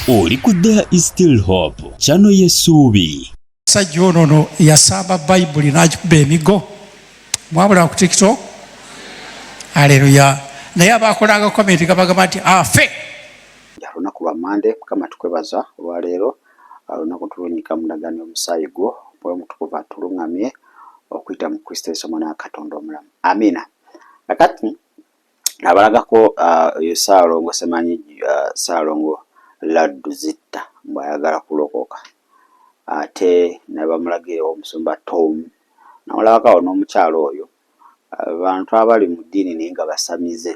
oli ku there is still hope kyano yesuubi sajja ono no yasamba bayibuli nakikuba emigo mwabula ku tiktok aleluya naye abakolanga komenti gabagamba nti afe olunaku lwa mande mukama tukwebaza olwaleero olunaku tulunyika mulagani omusaayi gwo mwoyo mutukuvu atulungamye okuyita mu kristo yesu omwana wa katonda omulamu amina kakati abalagako ah, oyo Ssaalongo Semanyi ah, Ssaalongo Laddu Zitta mbwayagala kulokoka ate nebamulagira omusumba Tom namulabakawo n'omukyalo oyo abantu abali mu ddiini naye nga basamize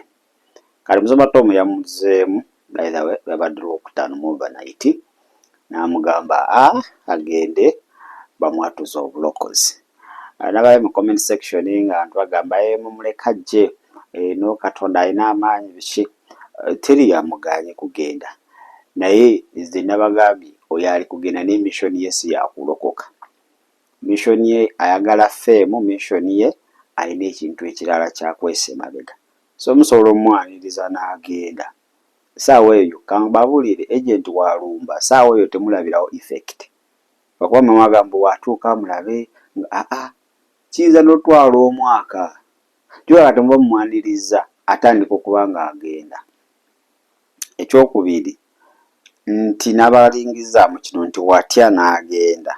kati musumba Tom yamuzeemu by the way lwebadde lwokutaano mu over night namugamba a agende bamwatuze obulokozi nabayo mu comment section nga ntu bagamba e mumuleka ajje eno katonda alina amaanyi biki teri yamuganye kugenda naye nze nabagambye oyo ali kugenda naye mission ye si yakulokoka mission ye ayagala fame mission ye alina ekintu ekirala kyakwesa emabega So musobola omwaniriza nagenda saawa eyo kambabulire agent walumba saawa eyo temulabirawo effect lwakuba mama agamba mbu watuuka mulabe nga aa kiyinza notwala omwaka kyoka kati muba mumwanirizza atandika okuba nga agenda ekyokubiri nti nabalingizaamu kino nti watya nagenda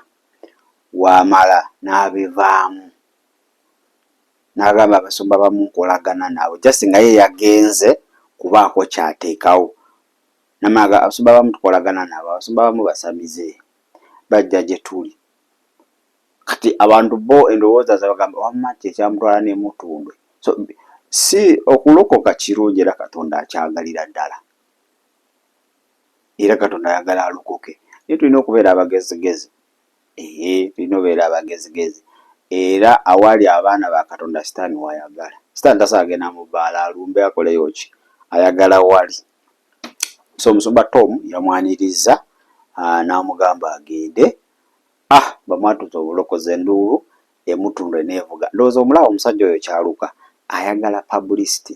wamala nabivaamu. N'agamba abasumba abamu nkolagana nabo just nga ye yagenze kubaako ky'ateekawo. Namala abasumba abamu tukolagana nabo, abasumba abamu basamize, bajja gye tuli. Kati abantu bo endowooza zaabwe bagamba wamma kye kyamutwala ne Mutundwe. So si okulokoka kirungi era Katonda akyagalira ddala era Katonda ayagala alokoke naye tulina okubeera abagezigezi. Ehe tulina obeera abagezigezi era awali abaana ba Katonda sitaani wayagala. Sitaani tasobola genda mu bbaala alumbe akoleyo ki, ayagala wali. So omusumba Tom yamwanirizza ah, n'amugamba agende. Ah, bamwatuza obulokozi enduulu emutundwe neevuga. Ndowooza omulaba omusajja oyo kyaluka ayagala publicity,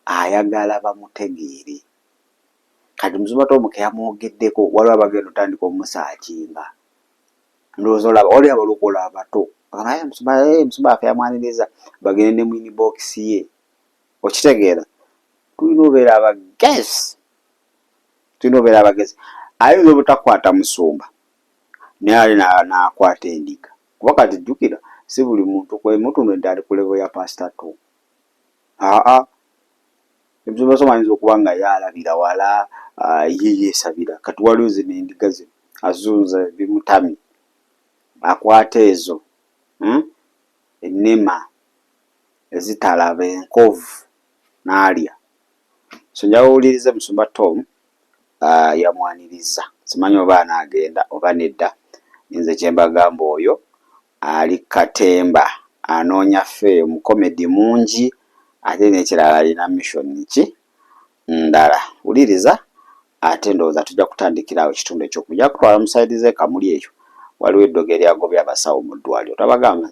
ayagala bamutegeere. Kati mzuma Tom keyamwogeddeko waliwo abagenda otandika omusaakinga ndowooza olaba wali abalokola abato naye mzuma eh, mzuma afe yamwaniriza bagende ne mwini bokisi ye okitegeera tulina obeera abagezi tulina obeera abagezi ayinza obutakwata musumba naye ali nakwata endiga kuba kati jjukira si buli muntu kwemutuno nti ali ku levo ya pasita to aa Ebisoomooza ayinza okuba nga ye alabira wala, ye yeesabira. Kati waliwo zino endiga zino azunza bimutamye, akwata ezo ennema ezitalaba enkovu n'alya. So njagala owulirize Musumba Tom yamwanirizza. Simanyi oba anaagenda oba nedda, naye nze kye mbagamba oyo. Ali ku katemba anoonya fee mu comedy mungi ate nekirala alina mission ki ndala wuliriza ate ndowooza tujja kutandikira awo ekitundu ekyoku ja kutwala mu side ze kamuli eyo waliwo eddogo eryagobye abasawo mu ddwaliro tabagamba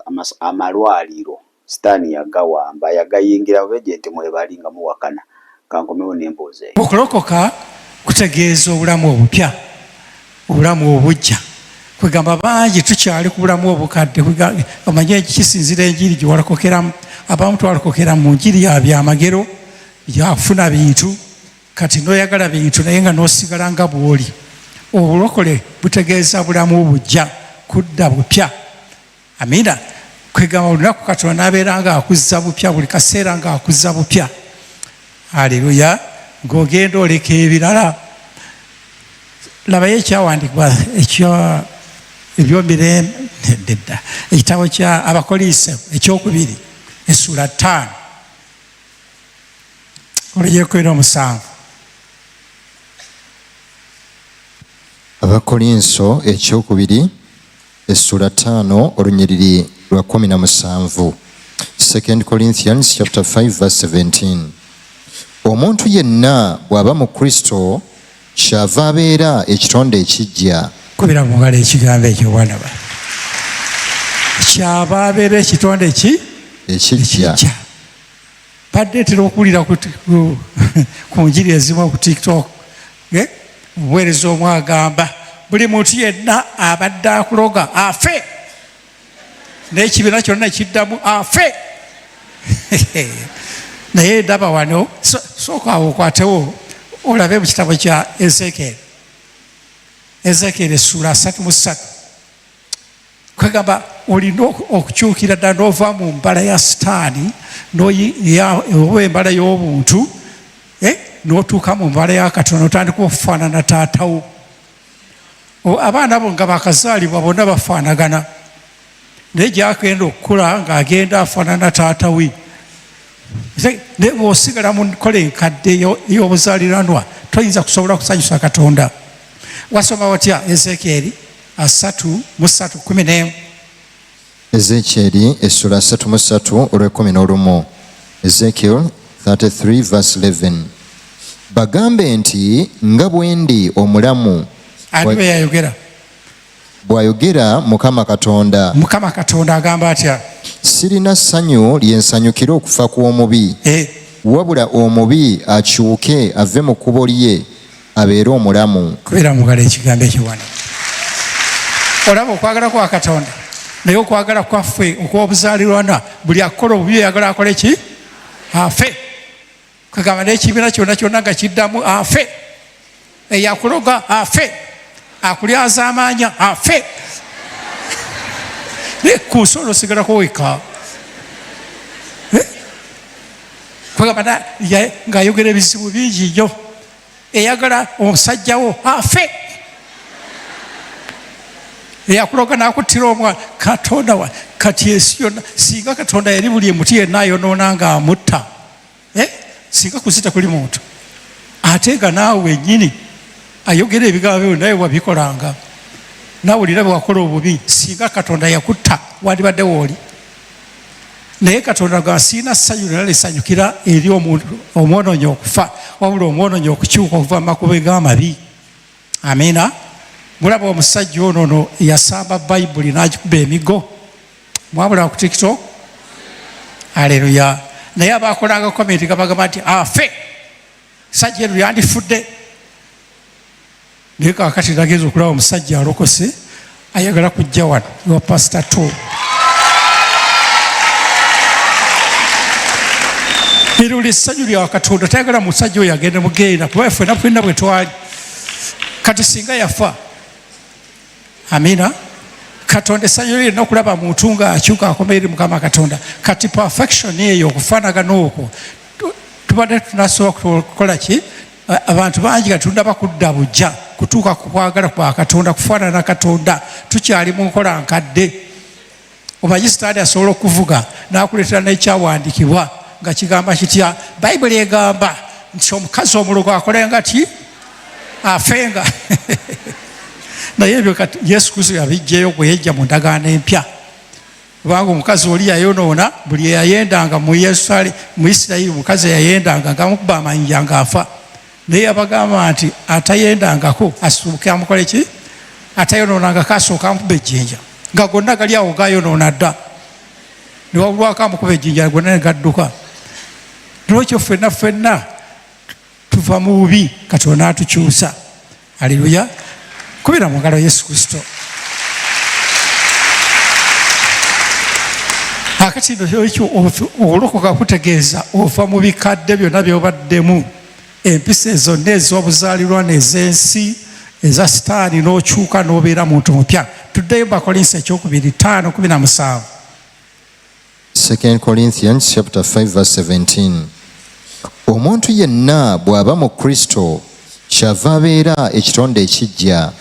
amalwaliro. Sitani yagawamba yagayingira oba egyenti mwebali nga muwakana kankomewo nembuuza eyo. Okulokoka kutegeeza obulamu obupya, obulamu obujja. Kwegamba bangi tukyali ku bulamu obukadde. Omanyi eki kisinzira enjiri gyewalokokeramu. Abamu twalokokera mu njiri ya byamagero, byakufuna bintu. Kati noyagala bintu naye nga nosigala nga bwoli. Obulokole butegeeza bulamu bujja, kudda bupya. Amina. Kwegamba olunaku Katonda nabeera nga akuzza bupya buli kaseera nga akuzza bupya. Aleluya. Ng'ogenda oleka ebirala. Labayo ekyawandikibwa ekyo ebyomirembe nedda ekitabo kya abakoliise ekyokubiri essuula ttaano oluyekuina omusanvu abakolinso ekyokubiri essula taano olunyiriri lwa kumi na musanvu 2 corinthians chapter 5 verse 17 omuntu yenna bw'aba mu kristo kyava abeera ekitonde ekijja kubira mu ngalo ekigambo ekyo bwanaba kyava abeera ekitonde ki ekijja badde tera okuwulira ku njiri ezimu ku tiktok eh? obuweereza omu agamba buli muntu yenna abadde akuloga afe n'ekibiina kyonna kiddamu afe naye ndaba wano sooka awo okwatewo olabe mu kitabo kya ezekeeri ezekeeri essuula asatu mu ssatu kwegamba olina okukyukira ddala n'ova mu mbala ya sitaani oba embala y'obuntu eh, n'otuuka mu mbala ya katonda otandika okufaanana taatawo abaana abo nga bakazaalibwa bonna bafaanagana naye gyagenda okukula ng'agenda afaanana taatawe naye bwosigala mu nkola enkadde ey'obuzaaliranwa toyinza kusobola kusanyusa katonda wasoma watya ezeekyeri asatu mu ssatu kkumi n'emu ezeekyeri essula asatu mu ssatu olw'ekkumi n'olumu ezekiel 33:11 bagambe nti nga bwendi omulamu ani bwe yayogera bw'ayogera mukama katonda mukama katonda agamba atya sirina ssanyu lye nsanyukira okufa kw'omubi eh. wabula omubi akyuke ave mu kkubo lye abeere omulamu kubera mugala ekigambo ekiwana olaba okwagala kwa katonda naye okwagala kwaffe okwobuzalirwana buli akukola obubi oyagala akole ki afe kagamba nekibiina kyona kyona nga kiddamu afe eyakuloga afe akulyaza amaanya afe naye ku nsi olwo osigalako weka eh? kwegamba ng'ayogera ebizibu bingi nnyo eyagala omusajjawo afe eyakuloga nakuttira omwana katonda wa kati ensi yonna singa katonda yali buli emuti yenna ayonoona nga amutta eh? singa kuzita kuli muntu ate nga naawe wenyini ayogera ebigambo byo naye wabikolanga nawulira bwewakola obubi singa katonda yakutta wandibadde wooli naye katonda gwa siina ssanyu lyona lisanyukira eri omwonoonyi okufa wabula omwonoonyi okukyuka okuva mu makubo g'amabi amiina mulaba omusajja ono no yasamba bayibuli n'agikuba emigo mwabula ku tiktok aleluya naye abakolanga komenti gabagamba nti afe sajja eno yandifudde naye kakati nagenza okulaba omusajja alokose ayagala kujja wano ewa pasita to ero lyessanyu lya katonda tayagala musajja oyo agenda mugeera kuba fena fena bwe twali kati singa yafa amina katonda essanyu lye nokulaba muntu nga akyuka akoma eri mukama katonda kati perfection eyo okufanagana okwo tubadde tunasobola kukola ki abantu bangi kati tunaba kudda bujja kutuuka ku kwagala kwa katonda kufaanana katonda tukyali mu nkola nkadde omanyi sitaani asobola okuvuga n'akuleetera n'ekyawandiikibwa nga kigamba kitya bayibuli egamba nti omukazi omulogo akolenga ti afenga naye ebyo yesu kristo yabijjayo gweyejja mu ndagaano empya kubanga omukazi oli yayonoona buli eyayendanga mu yerusalemu mu isirayiri omukazi eyayendanga ngamukuba amanyiya ngaafa naye yabagamba nti atayendangako asuuke amukola eki atayonoonangako asooka amukuba ejjinja nga gonna gali awo gayonoona dda newabulwako amukuba ejjinja gonna negadduka nolwekyo fenna fenna tuva mu bubi katonda atukyusa aleluya kubira mu ngalo yesu kristo akati ekyo okulokoka kutegeeza ova mu bikadde byonna byobaddemu empisa ezonna ez'obuzaalirwa n'ez'ensi eza sitaani n'okyuka n'obeera muntu mupya tuddeyo bakolinsi ekyokubiri taano kumi na musanvu 2 Corinthians chapter 5 verse 17 omuntu yenna bw'aba mu kristo kyava abeera ekitonde ekijja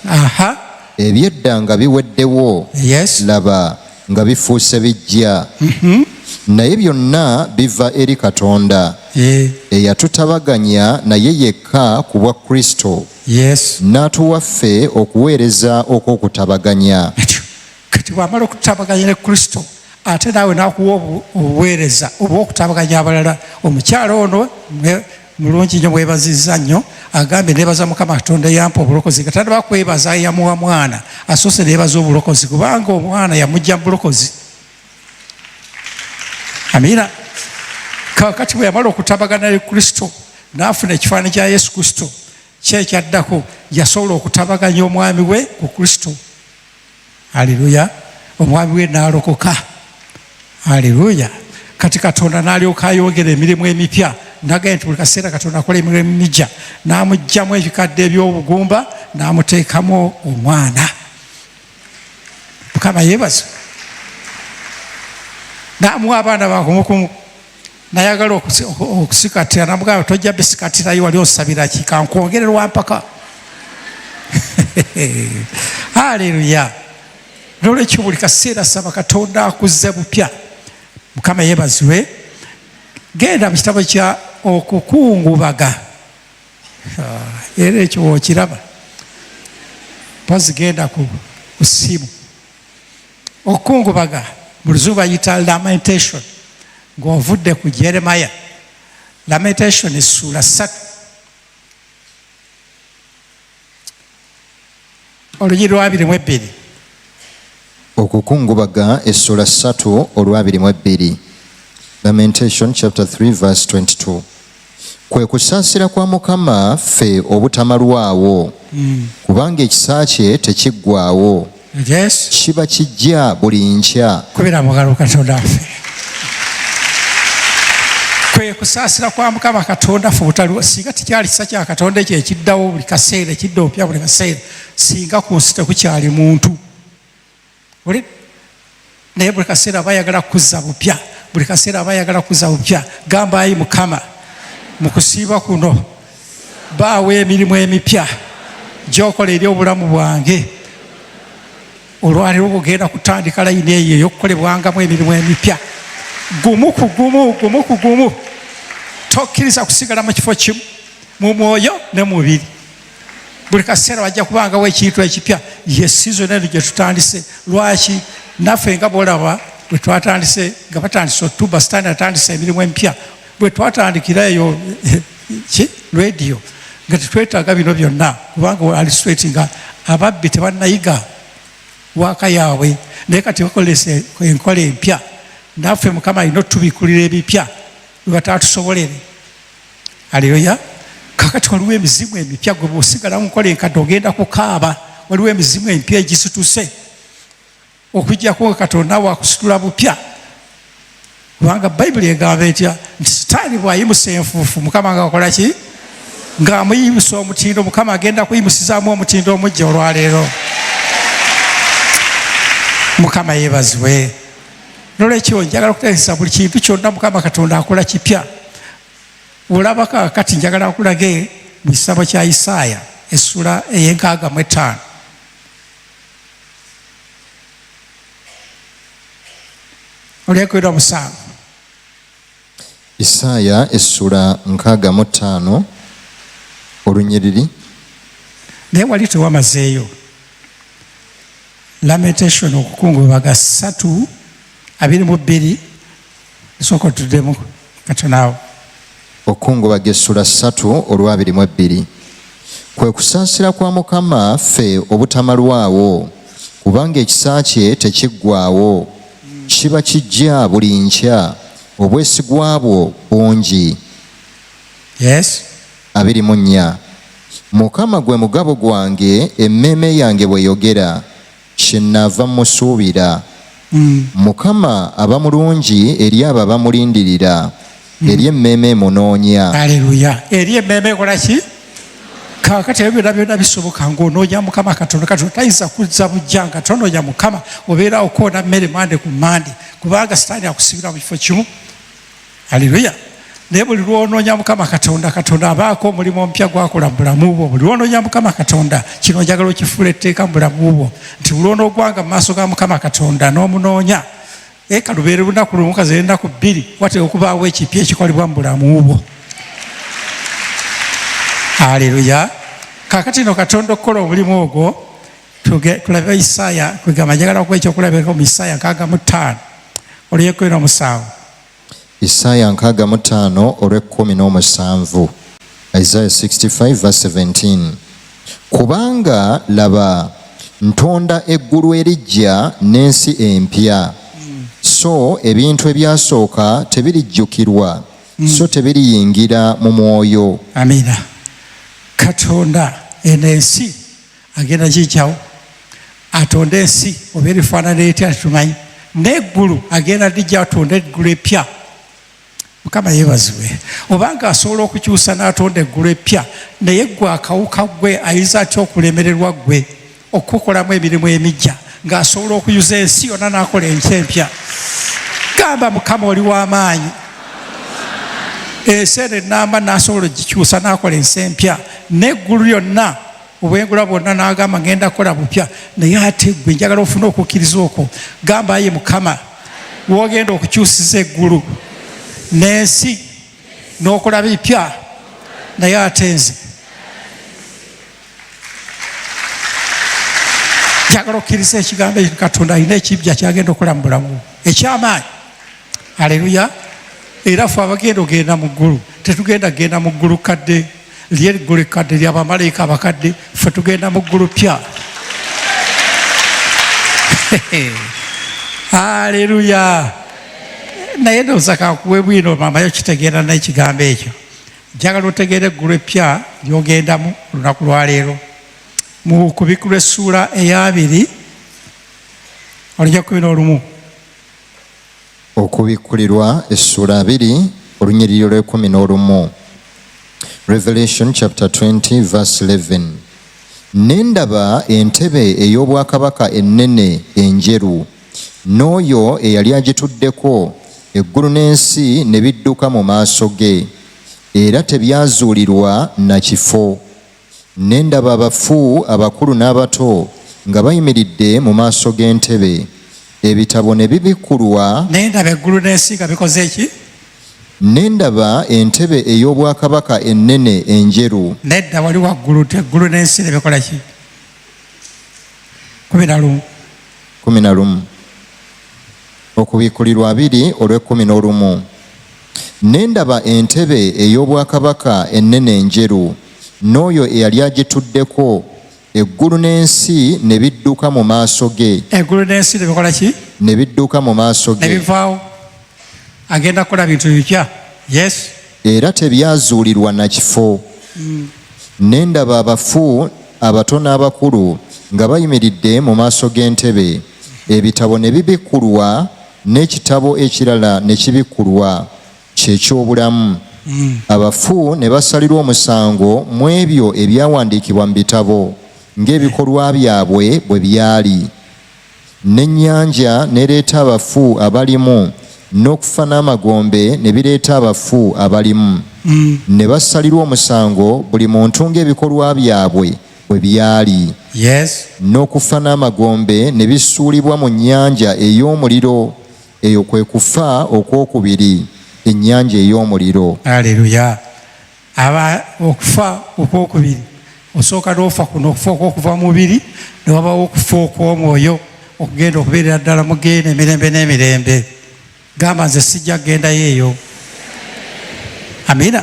ebyedda nga biweddewo laba nga bifuuse bijja mhm. naye byonna biva eri katonda eyatutabaganya naye yekka ku bwa kristo n'atuwaffe okuweereza okw'okutabaganya kati bwamala okutabaganya ne kristo ate naawe nakuwa obuweereza obwokutabaganya abalala omukyala ono mulungi nyo mwebaziza nnyo agambye nebaza mukama katonda yampa obulokozi katanda bakwebaza yamuwa mwana asoose nebaza obulokozi kubanga omwana yamujja mubulokozi amina kakati bwe yamala okutabagana ne kristo nafuna ekifaanani kya yesu kristo kyekyaddako yasobola okutabaganya omwami we ku kristo aleluya omwami we naalokoka aleluya kati katonda nalyoka ayongera emirimu emipya nagaye nti buli kaseera katonda akola emirimu emija namugjamu ebikadde ebyobugumba namuteekamu omwana mukama yebaza namuwa abaana bakumukumu nayagala okusikatira namugamba tojja bisikatirayo wali osabira ki kankwongere lwampaka aleluya nolwekyo buli kaseera saba katonda akuzze bupya mukama yebazibwe genda mu kitabo kya okukungubaga ah, era ekyo wokiraba pazigenda ku simu okukungubaga mu luzungu bayita lamentation ng'ovudde ku jeremaya lamentation essuula ssatu oluyi lwabiri mu ebbiri okukungubaga essuula ssatu olwabiri mu ebbiri lamentation chapter 3 verse 22 kwe kusaasira kwa mukama ffe obutamalwawo hmm. kubanga ekisa kye tekiggwawo kiba kijja buli nkya kubira mugalo katonda ffe kwe kusaasira kwa mukama katonda ffe obutaliwo singa tekyali kisa kya katonda ekyo ekiddawo buli kaseera ekidda opya buli kaseera singa ku nsi tekukyali muntu naye buli kaseera aba ayagala kuzza bupya buli kaseera aba ayagala kuzza bupya gamba ayi mukama mu kusiiba kuno baawo emirimu emipya gyokola eri obulamu bwange olwaliro ogenda kutandika layini eyo eyokukolebwangamu emirimu emipya gumu ku gumu gumu ku gumu tokkiriza kusigala mu kifo kimu mu mwoyo ne mubiri buli kaseera wajja kubangawo ekintu ekipya ye sizoni eno gye tutandise lwaki naffe nga bwolaba bwe twatandise nga batandise otuba sitaani atandise emirimu emipya bwe twatandikira eyo ki rediyo nga tetwetaaga bino byonna kubanga ali sweti nga ababbi tebannayiga waaka yaabwe naye kati bakolesa enkola empya naffe mukama alina otubikulira ebipya webatatusobolere aleluya kakati waliwo emizimu emipya gwe bwosigala mukola enkadde ogenda kukaaba waliwo emizimu emipya egisituse okujjako nga katonda wakusitula bupya kubanga bayibuli egamba etya nti sitaani bwayimusa enfuufu mukama nga akola ki ng'amuyimusa omutindo mukama agenda kuyimusizaamu omutindo omujja olwaleero mukama yebazibwe nolwekyo njagala okutegesa buli kintu kyonna mukama katonda akola kipya olaba kakati njagala akulage mu kisabo kya isaaya essula eyenkaaga mu ettaano olyekwera musanvu Isaaya essula nkaaga mu ttaano olunyiriri. Naye wali tewamazeeyo lamentation okukungubaga satu abiri mu bbiri esooka otuddemu katonaawo okukungubaga essula ssatu olwabiri mu ebbiri kwe kusaasira kwa mukama ffe obutamalwawo kubanga ekisa kye tekiggwawo kiba kijja buli nkya obwesigwa bwo bungi yes abiri mu nnya mukama gwe mugabo gwange emmeeme yange bweyogera kyenaava musuubira mm. mukama aba mulungi eri abo abamulindirira hmm. eri emmeeme emunoonya aleluya eri emmeeme ekola ki kakati ebyo byona byona bisoboka ngaonoonya mukama katonda kati otayinza kuzza bujja nga tonoonya mukama obeerawo koona mmere mande ku mande kubanga sitaani akusibira mu kifo kimu aleluya naye buli lwonoonya mukama katonda katonda abaako omulimu omupya gwakola mu bulamu bwo buli lwonoonya mukama katonda kino njagala okifuula etteeka mu bulamu bwo nti buli onoogwanga mu maaso ga mukama katonda n'omunoonya naye kalubeere lunaku lumu kaze ennaku bbiri wateeka okubaawo ekipya ekikolebwa mu bulamu bwo aleluya kakati no katonda okukola omulimu ogwo tulabe isaaya kwegamba njagala okuba ekyokulabirako mu isaaya nkaaga mu ttaano oluyekumi n'omusanvu Isaaya nkaaga mu ttaano olw'ekkumi n'omusanvu Isaiah 65 verse 17 kubanga laba ntonda eggulu eriggya n'ensi empya so ebintu ebyasooka tebirijjukirwa mm. so tebiriyingira mu mwoyo amina katonda eno ensi agenda kikyawo atonde ensi oba erifaanana etya tetumanyi neggulu agenda dijja atonda eggulu epya mukama yebaziwe obanga asobola okukyusa n'atonda eggulu epya naye gwe akawuka gwe ayinza atya okulemererwa gwe okukolamu emirimu emijja ng'asobola okuyuza ensi yonna n'akola enkya empya gamba mukama oli w'amaanyi ensi eno enamba n'asobola ogikyusa n'akola ensi empya n'eggulu lyonna obwengula bwonna n'agamba ngenda kukola bupya naye ate gwe njagala ofuna okukkiriza okwo gamba aye mukama wogenda okukyusiza eggulu n'ensi n'okola bipya naye ate nze njagala okukkiriza ekigambo ekyo katonda alina ekibja kyagenda okukola mu bulamu ekyamaanyi aleluya era fe abagenda ogenda mu ggulu tetugenda kugenda mu ggulu kadde lyeggulu ekkadde lya bamalayika abakadde fe tugenda mu ggulu pya aleluya naye ndowooza kankuwe bwino mamayo kitegeera naye ekigambo ekyo njagala otegeera eggulu eppya lyogendamu olunaku lwaleero mu kubikulwa essuula eyabiri olija kumi n'olumu Okubikkulirwa essuula abiri olunyiriri lw'ekumi n'olumu Revelation chapter 20 verse 11 ne ndaba entebe ey'obwakabaka ennene enjeru n'oyo eyali agituddeko eggulu n'ensi ne bidduka mu maaso ge era tebyazuulirwa na kifo Ne ndaba abafu abakulu n'abato nga bayimiridde mu maaso g'entebe, ebitabo ne bibikkulwa. Ne ndaba eggulu n'ensi nga bikoze ki? Ne ndaba entebe ey'obwakabaka ennene enjeru. Nedda wali waggulu, eggulu n'ensi ne bikola ki? kumi na lumu. Kumi na lumu. Okubikkulirwa abiri olw'ekkumi n'olumu. Ne ndaba entebe ey'obwakabaka ennene enjeru, n'oyo eyali agituddeko, eggulu n'ensi ne bidduka mu maaso ge. Eggulu n'ensi ne bikola ki? Ne bidduka mu maaso ge. Ne bivaawo. Agenda kukola bintu bipya. Yes. Era tebyazuulirwa na kifo. Mm. Ne ndaba abafu abato n'abakulu nga bayimiridde mu maaso g'entebe, ebitabo ne bibikkulwa. n'ekitabo ekirala ne kibikkulwa, kye ky'obulamu. Hmm. Abafu ne basalirwa omusango mu ebyo ebyawandiikibwa mu bitabo ng'ebikolwa byabwe bwe byali. N'ennyanja n'ereeta abafu abalimu, n'okufa n'amagombe ne bireeta abafu abalimu. Hmm. Ne basalirwa omusango buli muntu ng'ebikolwa byabwe. bwe byali, n'okufa n'amagombe ne bisuulibwa mu nnyanja ey'omuliro. Eyo kwe kufa okw'okubiri, ennyanja ey'omuliro. Aleluya! Aba okufa okw'okubiri, osooka n'ofa kuno okufa okw'okuva mu mubiri, ne wabawo okufa okw'omwoyo okugenda okubeerera ddala mu ggeyeena emirembe n'emirembe. gamba nze sijja kugendayo eyo amina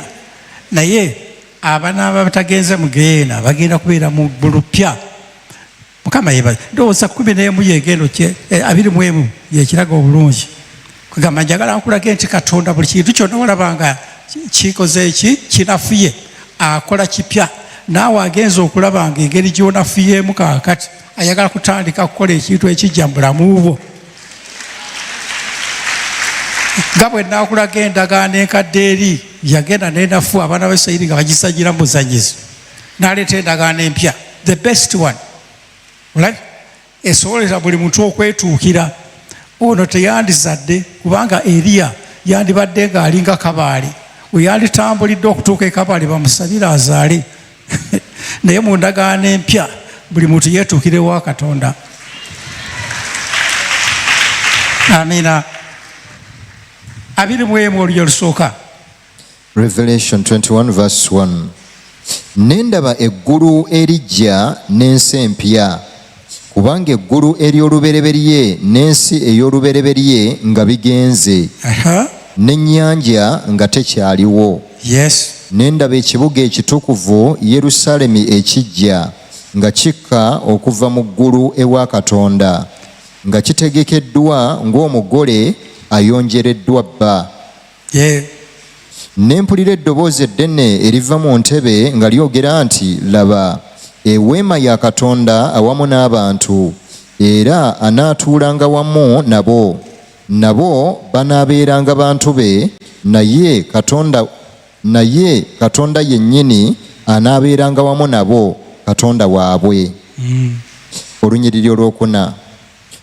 naye abanaaba batagenze mugeena bagenda kubeera mu bulupya mukama yebaza ndowooza kumi nemu yegendo eh, abiri mu emu yekiraga obulungi kugamba njagala nkulage nti katonda buli kintu kyonna olabanga kikoze eki kinafuye akola kipya naawe agenza okulabanga engeri gyonafuyemu kakati ayagala kutandika kukola ekintu ekijja mu bulamu bwo nga bwe nakulaga endagaano enkadde eri yagenda nenafu abaana ba isirairi nga bagisagira mu buzanyizi naleeta endagaano empya the best one right? esobolera buli muntu okwetuukira ono teyandizadde kubanga eriya yandibadde ng'alinga kabaale weyanditambulidde okutuuka ekabaale bamusabire azaale naye mu ndagaano empya buli muntu yeetuukire wa katonda amiina abiri mu emu olulyo lusooka revelation 21 vs 1 ne ndaba eggulu eriggya n'ensi empya kubanga eggulu ery'olubereberye n'ensi ey'olubereberye nga bigenze n'ennyanja nga tekyaliwo ne ndaba ekibuga ekitukuvu yerusaalemi ekijja nga kikka okuva mu ggulu ewa katonda nga kitegekeddwa ng'omugole ayonjereddwa bba ne mpulira eddoboozi eddene eriva mu ntebe nga lyogera nti laba eweema ya katonda awamu n'abantu era anaatuulanga wamu nabo nabo banaabeeranga bantu be naye katonda naye katonda yennyini anaabeeranga wamu nabo katonda waabwe mm. olunyiriri olwokuna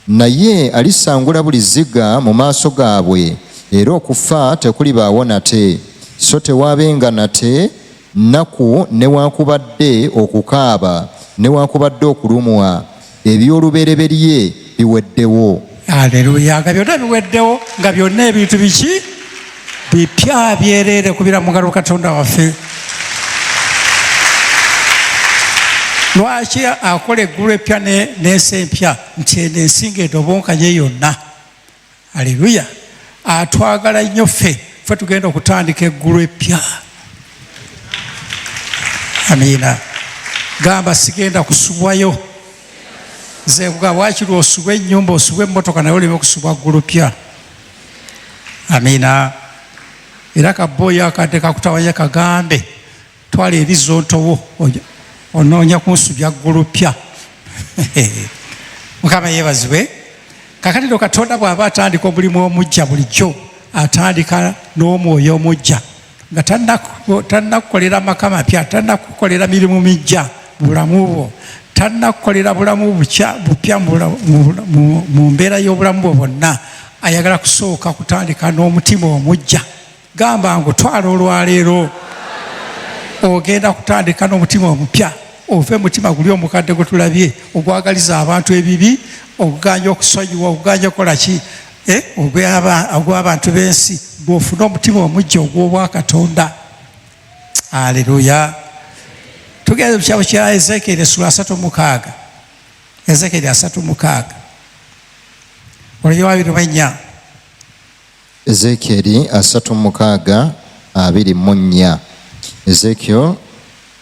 Naye alisangula buli zziga mu maaso gaabwe, era okufa tekulibaawo nate, so tewaabenga nate nnaku newaakubadde okukaaba newaakubadde okulumwa, eby'olubereberye biweddewo. Aleluya! Nga byonna biweddewo, nga byonna ebintu biki? bipya byereere kubira mugalo katonda waffe lwaki akola eggulu epya nensi empya nti eno ensinga edobonkanye yonna aleluya atwagala nnyo ffe fe tugenda okutandika eggulu epya amiina gamba sigenda kusubwayo nze kugamba wakiri osubwa ennyumba osubwa emmotoka naye oleme okusubwa ggulu pya amina era kaboyi akadde kakutawanya kagambe twala ebizontowo onoonya kunsubya ggulupya mukama yebazibwe kakatiro katonda bw'aba atandika omulimu omujja bulijjo atandika n'omwoyo omujja nga tannakukolera amaka mapya tannakukolera mirimu mijja bulamu bwo tannakukolera bulamu bupya mu mbeera y'obulamu bwo bwonna ayagala kusooka kutandika n'omutima omujja gamba ngu twala olwaleero ogenda kutandika n'omutima omupya ove mutima guli omukadde gwe tulabye ogwagaliza abantu ebibi okuganja okusonyiwa okuganja okukola ki eh, ogw'abantu b'ensi gw'ofuna omutima omujja ogw'obwakatonda aleluya tugenda mu kitabo kya ezekieri esula asatu mukaaga ezekieri asatu mukaaga olugero abiri mu ennya ezekieri asatu mukaaga abiri mu nnya ezekiel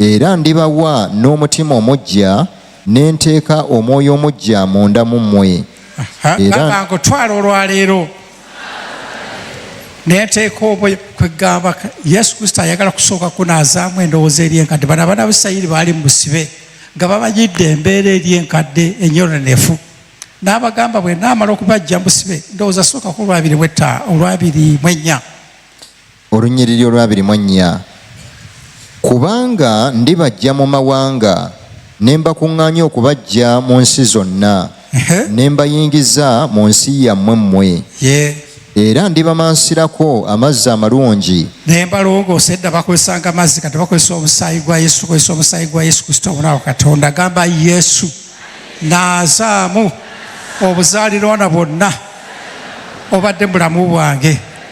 Era ndibawa n'omutima omuggya, ne nteeka omwoyo omuggya munda mu mmwe. Ha, Era- gamba nkutwala olwaleero nenteeka obwe kwegamba ka- yesu kristo ayagala kusooka kunaazaamu endowooza eri enkadde bano abaana ba isirayiri baali mu busibe nga bamanyidde embeera eri enkadde enyononefu n'abagamba bwe naamala okubajja mu busibe ndowooza sooka ku olwabiri bwetta olwabiri mu ennya Olunnyiriri olwabiri mu ennya Kubanga ndibaggya mu mawanga ne mbakuŋŋaanya okubaggya mu nsi zonna ne mbayingiza mu nsi yammwe mmwe era ndibamansirako amazzi amalungi naye mbalongoosa edda bakozesanga amazzi kati bakozesa omusaayi gwa yesu tukozesa omusaayi gwa yesu kristo omunawo katonda agamba yesu naazaamu obuzaalirwana bwonna obadde mubulamu bwange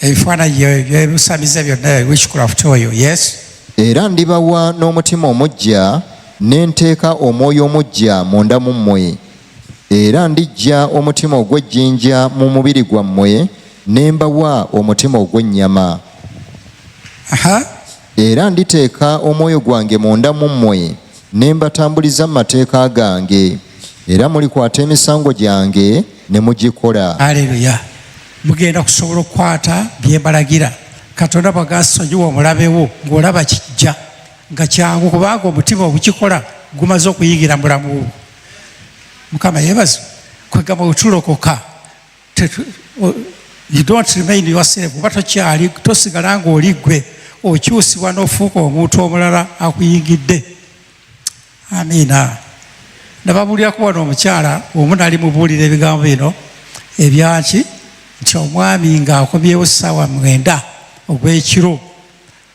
ebifaananyi byebusamize byonna wishcraft oyo yes era ndibawa n'omutima omuggya ne nteeka omwoyo omuggya munda mu mmwe era ndiggya omutima ogw'ejjinja mu mubiri gwammwe ne mbawa omutima ogw'ennyama Era nditeeka omwoyo gwange munda mu mmwe, ne mbatambuliza mu mateeka gange, era mulikwata emisango gyange ne mugikola. Aleluya! Mugenda kusobola okukwata bye mbalagira. Katonda bw'agasonyiwa omulabe wo, ng'olaba kijja nga kyangu, kubanga omutima ogukikola gumaze okuyingira mu bulamu bwo. Mukama yeebazibwe! Kwegamba bwe tulokoka you don't remain yourself kuba tokyali tosigala ng'oli ggwe okyusibwa n'ofuuka omuntu omulala akuyingidde amiina nababuulirako wano omukyala omu nali mubuulira ebigambo bino ebyaki nti omwami ng'akomyewo ssaawa mwenda ogw'ekiro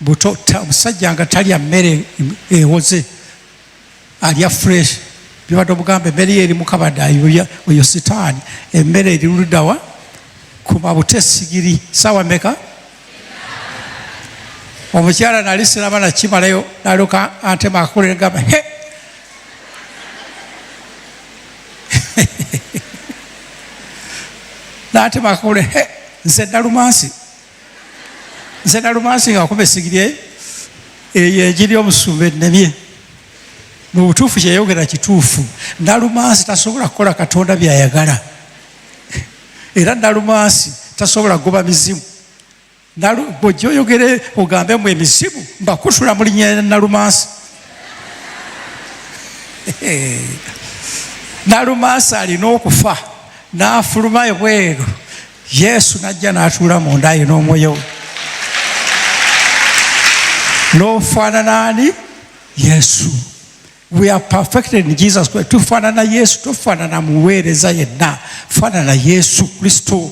buto omusajja nga talya mmere ewoze alya fresh bibadde omugamba emmere eri mukabada oyo sitaani emmere eri ludawa kuba buto esigiri saawa meka omukyala nali siraba nakimalayo naloka antema akakolere gamba he natema akakolere he nze nalumansi nze nalumansi nga akuba esigirye eyo enjiri omusumba ennemye mu butuufu kyeyogera kituufu nalumansi tasobola kukola katonda byayagala era nalumansi tasobola kugoba mizimu bwojja oyogere ogambe mu emizimu mbakutula mu linya ya nalumansi nalumansi alina okufa n'afuluma ebweru yesu najja n'atuula mu nda ye n'omwoyo we n'ofaanana ani yesu we are perfected in jesus christ tufaanana yesu tofaanana muweereza yenna faanana yesu kristo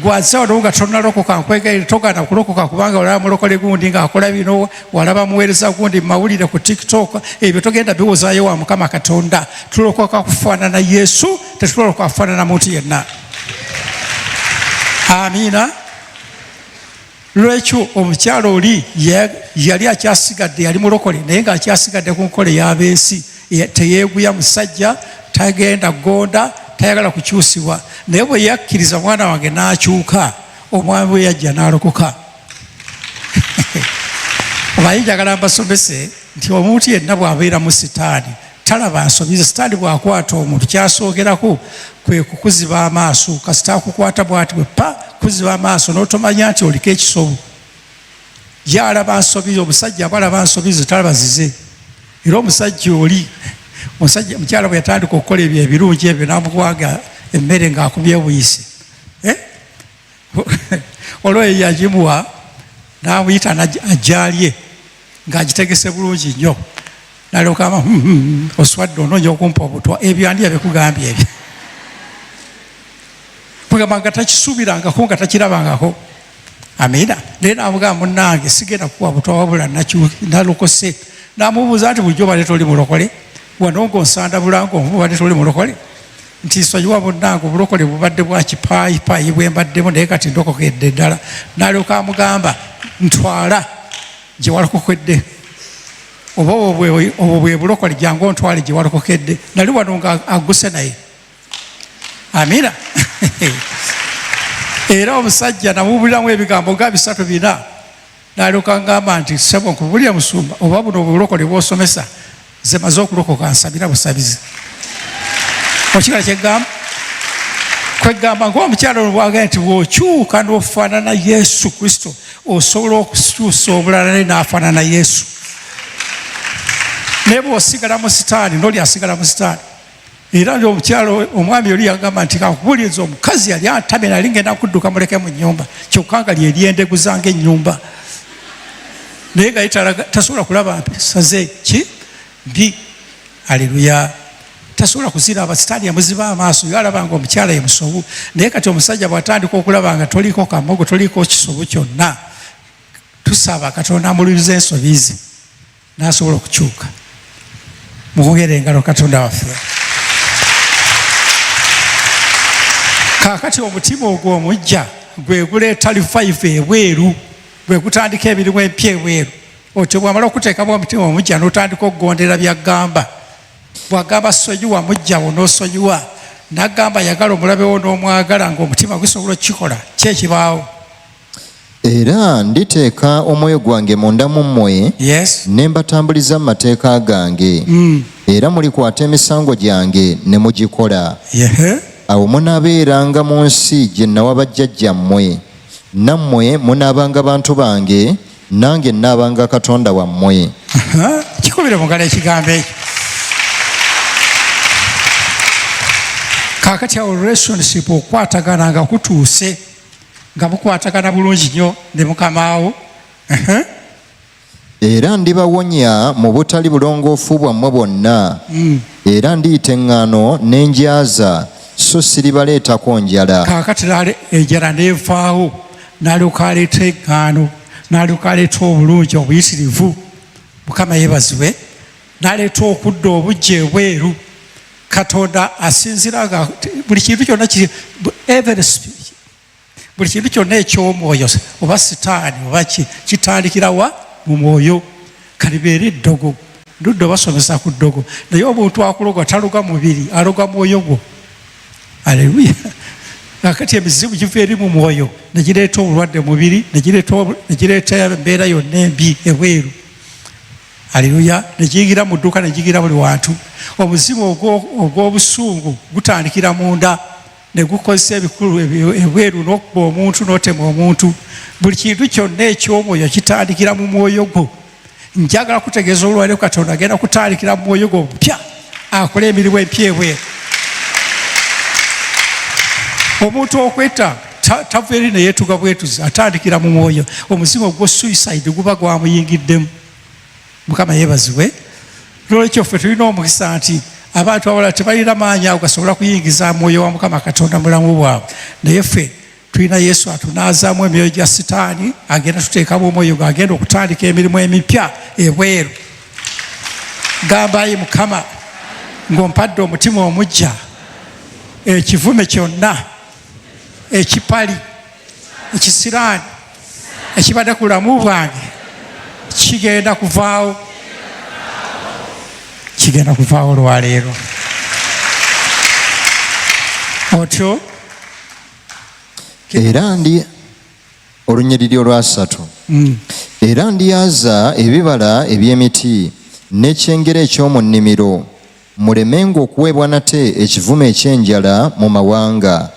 gwazawo nawo nga tonalokoka nkwegaire togana kulokoka kubanga olaba mulokole gundi ngaakola bino walaba muweereza gundi mumawulire ku tiktok ebyo togenda biwozayo wa mukama katonda tulokoka kufaanana yesu tetuloloka kufaanana muntu yenna amiina lwekyo omukyalo oli yali akyasigadde yali mulokole naye nga akyasigadde ku nkola ey'abensi teyeeguya musajja tagenda gonda tayagala kukyusibwa naye bwe yakkiriza mwana wange n'akyuka omwami bwe yajja n'alokoka omanyi njagala mbasomese nti omuntu yenna bw'abeera mu sitaani talaba nsobi ze sitaani bw'akwata omuntu kyasookerako kwe kukuziba amaaso kasita akukwata bwati bwe pa kuziba amaaso n'otomanya nti oliko ekisobo ye alaba nsobi ze omusajja aba alaba nsobi ze talaba zize era omusajja oli musajja mukyala bwe yatandika okukola ebyo ebirungi ebyo namukwanga emmere ng'akumye buyise olwo eyo yagimuwa n'amuyita ajaalye ng'agitegese bulungi nnyo nalyokaama hmm, hmm, hmm, oswadde onoonya okumpa obutwa ebyo andi yabikugambye ebyo kugamba nga takisuubirangako nga takirabangako amiina naye namugamba munange sigenda kuwa butwa wabula nalokose namubuuza nti bulijjo obadde toli mulokole wano ngaonsanda bulango obadde toli mulokole nti nsonyiwa munnange obulokole bubadde bwakipaayipaayi bwe mbaddemu naye kati ndokokedde ddala nalyoka amugamba ntwala gye walokokedde oba obwo bwe bulokole jangu ontwale gye walokokedde nali wano nga aguse naye amina era omusajja namubuliramu ebigambo nga bisatu bina Nalyoka ngamba nti ssebo nkubulire musumba oba buno obulokole bwosomesa nze maze okulokoka nsabira busabizi okigala kyegamba kwegamba ngaomukyalo olwagala nti wokyuka nofanana yesu kristo osobola okukyusa obulala naye nafanana yesu naye bwosigala mu sitaani noli asigala mu sitaani era nti omukyalo omwami oli yagamba nti kakubuliza omukazi yali antamye nali ngenda kudduka muleke mu nyumba kyokka nga lyeryendegu zanga ennyumba naye nga tasobola kulaba saze ki mbi aleluya tasobola kuziraba sitaani yamuziba amaaso yo alabanga omukyala ye musobu naye kati omusajja bwatandika okulaba nga toliko kamogo toliko kisobu kyonna tusaba katonda amuliriza ensobi ze n'asobola okukyuka mukugera engalo katonda waffe kaakati omutima ogwo omujja gwe guleeta lifaifa ebweru gwe gutandika emirimu empya ebweru otyo bwamala okuteekamu omutima omujja n'otandika okugondera byagamba bwagamba sonyiwa mujjawo n'osonyiwa nagamba yagala omulabewo n'omwagala ngaomutima gusobola okukikola kyekibaawo Era nditeeka omwoyo gwange munda mu mmwe, yes. ne mbatambuliza mu mateeka gange mm. era mulikwata emisango gyange ne mugikola yeah. awo munaabeeranga mu nsi gye nawa bajjajjammwe nammwe munaabanga bantu bange nange naabanga katonda wammwe kikubire mugala ekigambo ekyo kakati awo relationship okwatagana nga kutuuse nga bukwatagana bulungi nnyo ne mukamaawo era ndibawonya mu butali bulongoofu bwammwe bwonna hmm. era ndiyita eŋŋaano n'enjaza so siribaleetako njala kaakati enjala n'evaawo nalyoka aleeta eŋŋaano nalyoka aleeta obulungi obuyitirivu mukama yebazibwe naleeta okudda obujja ebweru katonda asinzira nga buli kintu kyonna kiri every speech buli kintu kyonna ekyomwoyo oba sitaani oba kitandikira wa mu mwoyo kati beera eddogo ludde obasomesa ku ddogo naye omuntu akuloga taloga mubiri aloga mwoyo gwo aleluya akati emizibu giva eri mu mwoyo negireeta obulwadde mubiri negireeta embeera yonna embi ebweru Aleluya! Ne giyingira mu dduuka, ne giyingira buli wantu. Omuzimu ogw'obusungu gutandikira munda ne gukozesa ebikulu ebweru n'okuba omuntu n'otema omuntu. Buli kintu kyonna eky'omwoyo kitandikira mu mwoyo gwo. Njagala kutegeeza olwaleero Katonda agenda kutandikira mu mwoyo gwo obupya. akole emirimu empya ebweru omuntu okwetta tava eri neyetuga bwetuzi atandikira mu mwoyo omuzimu ogwo suicide guba gwamuyingiddemu mukama yebazibwe lwolwekyo ffe tulina omukisa nti abantu abala tebalina maanyi ago gasobola kuyingiza mwoyo wa mukama katonda mulamu bwabwe naye ffe tulina yesu atunaazaamu emyoyo gya sitaani agenda tuteekamu omwoyo gwe agenda okutandika emirimu emipya ebweru gambayi mukama ng'ompadde omutima omujja ekivume kyonna ekipali ekisiraani ekibadde ku bulamu bwange kigenda kuvaawo kigenda kuvaawo olwaleero otyo era ndi olunyiriri olwasatu mm. era ndyaza ebibala eby'emiti n'ekyengera eky'omu nnimiro mulemenga okuweebwa nate ekivumo eky'enjala mu mawanga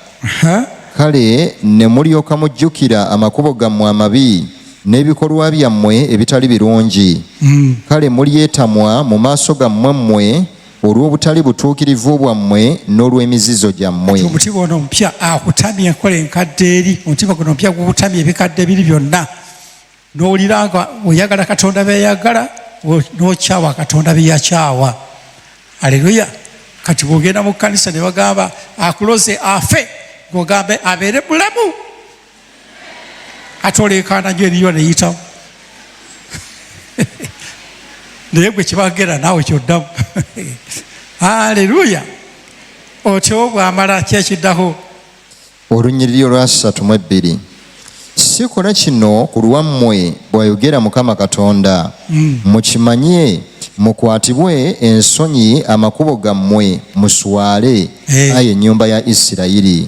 kale ne mulyoka mujjukira amakubo gammwe amabi n'ebikolwa byammwe ebitali birungi mm. kale mulyetamwa mu maaso gammwe mmwe olw'obutali butuukirivu bwammwe n'olw'emizizo gyammwe kati omutima ono omupya akutamya enkola enkadde eri omutima guno omupya gukutamya ebikadde biri byonna n'owulira nga oyagala katonda byeyagala n'okyawa katonda byeyakyawa aleluya kati bwogenda mu kkanisa ne bagamba akuloze afe gogambe abeere bulamu ate oleekaana nyo eriyo neyitamu naye gwe kibagera naawe kyoddamu aleluya otyo bwamala kyekiddaho olunyiriri olwasatu mu ebbiri sikola kino ku lwammwe bwayogera mukama katonda hmm. mukimanye mukwatibwe ensonyi amakubo gammwe muswale eh. aye ennyumba ya isirayiri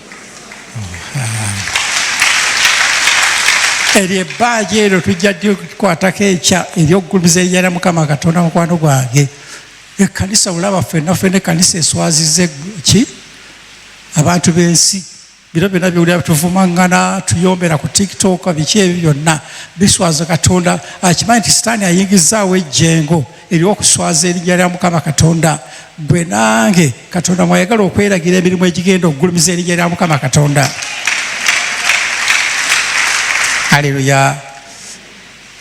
eryo ebbaaji eryo tujja dikwatako ekya eryokugulumiza eryera mukama katonda mukwano gwange ekkanisa olaba fenna fena ekkanisa eswazize ki abantu b'ensi bino byona byewulira bituvumaŋŋana tuyombera ku tiktok biki ebyo byonna biswaza katonda akimanyi nti sitaani ayingizaawo ejjengo eby'okuswaza erinnya lya mukama katonda gwe nange katonda mwayagala okweragira emirimu egigenda okugulumiza erinnya lya mukama katonda aleluya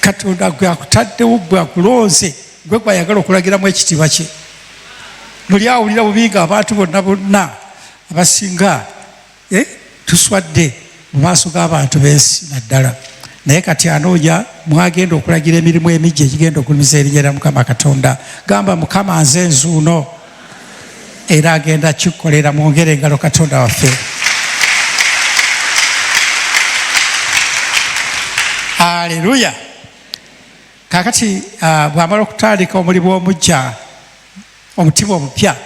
katonda gwe akutaddewo gwe akulonze gwe gwayagala okulagiramu ekitiibwa kye muli awulira bubi nga abantu bonna bonna abasinga eh, tuswadde mu maaso g'abantu b'ensi naddala naye kati anoonya mwagenda okulagira emirimu emijja egigenda okulumiza erinnya lya mukama katonda gamba mukama nze nzuuno era agenda kikukolera mwongere engalo katonda waffe aleluya kakati ah, bwamala okutandika omulimu omujja omutima omupya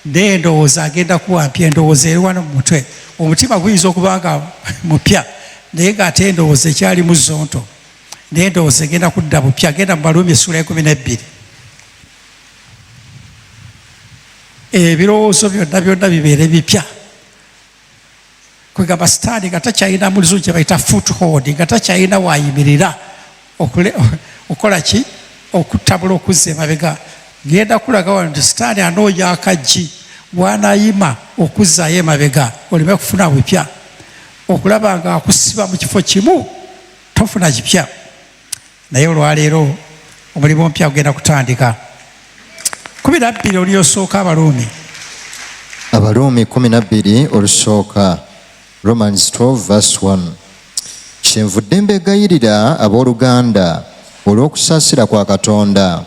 naye endowooza agenda kuwa mpya endowooza eri wano mu mutwe omutima guyinza okuba nga mupya naye ngaate endowooza ekyali mu zonto naye endowooza egenda kudda bupya genda mu baluumi essuula ekumi nebbiri ebirowoozo byonna byonna bibeere bipya kwegamba sitaani nga takyalina mu luzungu kye bayita foothold nga takyalina waayimirira okukola ki okutabula okuzza emabega ngenda kulaga wano nti sitaani anoonya akaggi waanayima okuzzaayo emabega oleme kufuna bupya okulaba nga akusiba mu kifo kimu tofuna kipya naye olwaleero omulimu omupya kugenda kutandika kumi nabbiri oluyosooka abaruumi abaruumi kumi nabbiri olusooka romans 12 vs 1 kyenvudde mbegayirira abooluganda olw'okusaasira kwa katonda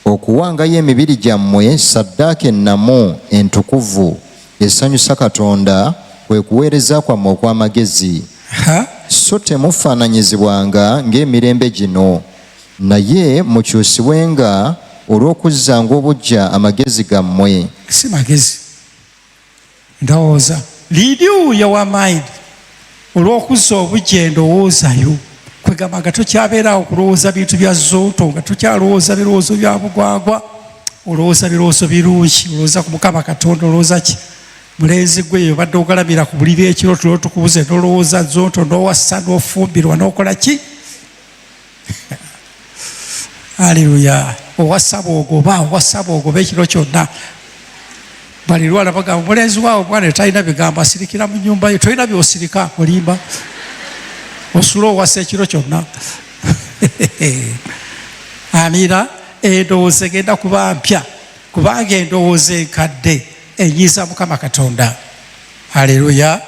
okuwangayo emibiri gyammwe saddaaka ennamu entukuvu esanyusa katonda kwe kuweereza kwammwe okw'amagezi so temufaananyizibwanga ng'emirembe gino naye mukyusibwenga olw'okuzzanga obujja amagezi gammwe si magezi ndowooza lidiuya wa mind olw'okuzza obujja endowoozayo kwegamba nga tokyabeeraawo kulowooza bintu bya zooto nga tokyalowooza birowoozo bya bugwagwa olowooza birowoozo birungi olowooza ku mukama katonda olowooza ki mulenzi gwe yobadde ogalabira ku buliri ekiro tulo tukubuze nolowooza zonto nowassa nofumbirwa nokola ki aleluya owassa bwogoba owassa bwogoba ekiro kyonna balirwala bagamba mulenzi waawe omwana etalina bigambo asirikira mu nyumba yo tolina byosirika olimba osula owasa ekiro kyonna amiira endowooza egenda kuba mpya kubanga endowooza enkadde enyiza mukama katonda aleluya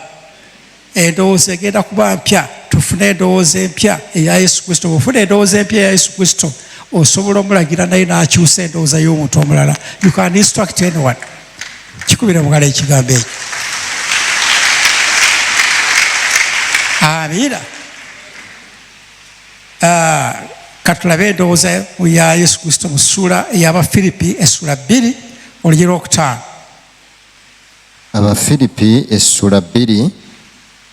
endowooza egenda kuba mpya tufune endowooza empya eya yesu kristo bwofuna endowooza empya eya yesu kristo osobola omulagira naye nakyusa endowooza y'omuntu omulala you can instruct anyone kikubira mugala ekigambo ekyo amiina ah, katulabe endowooza ya yesu kristo mu ssuula ey'abafiripi essula bbiri olugye lwokutaano abafiripi essula bbiri